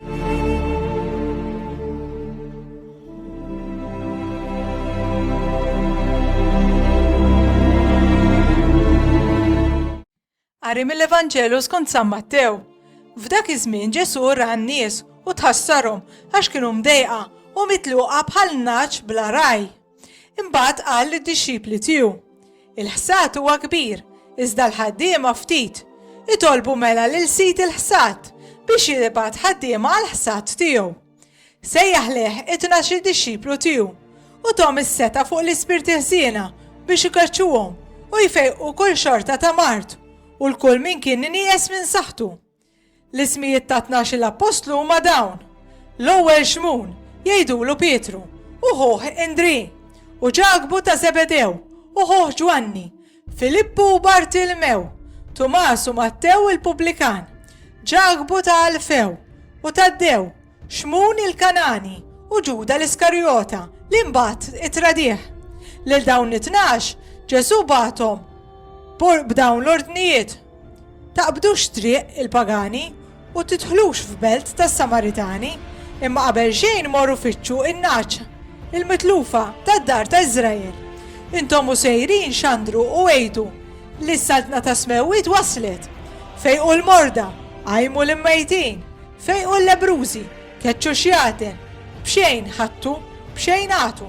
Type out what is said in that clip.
Qari mill-Evanġelu skont San Mattew. F'dak iż-żmien Ġesù ra n-nies u tħassarhom għax kienu mdejqa u mitluqa bħal naċ bla raj. Imbagħad qal lid-dixxipli tiegħu, Il-ħsad huwa kbir, iżda l-ħaddiema ftit. Itolbu mela lil sid il-ħsad biex jibgħat ħaddiema għall-ħsad tiegħu. Sejjaħ lejh it-tnax-il dixxiplu tiegħu u thom is-setgħa fuq l-ispirti ħżiena biex ikeċċuhom u jfejqu kull xorta ta' mard u l-kull min kien nieqes minn saħħtu. L-ismijiet tat-tnax-il appostlu huma dawn, L-ewwel Xmun, jgħidulu Pietru, u ħuh Indrì, u Ġakbu ta' Żebedew, u ħuh Ġwanni, Filippu u Bartilmew, Tumas u Mattew il-pubblikan, Ġakbu ta' Alfew, u Taddew, Xmun il-Kangħani u Ġuda l-Iskarijota li mbagħad ittradih. Lil dawn it-tnax Ġesù bagħathom b'dawn l-ordnijiet, Taqbdux triq il-pagani u tidħlux f'belt tas-Samaritani, imma qabelxejn morru fittxu n-nagħaġ il-mitlufa tad-dar ta' Iżrael. Intom u sejrin xandru u għidu li s-Saltna tas-Smewwiet waslet. Fejqu l-morda, qajmu l-immejtin, Fejqu l-lebbrużi, keċċu x-xjaten, b'xejn ħadtu, b'xejn agħtu.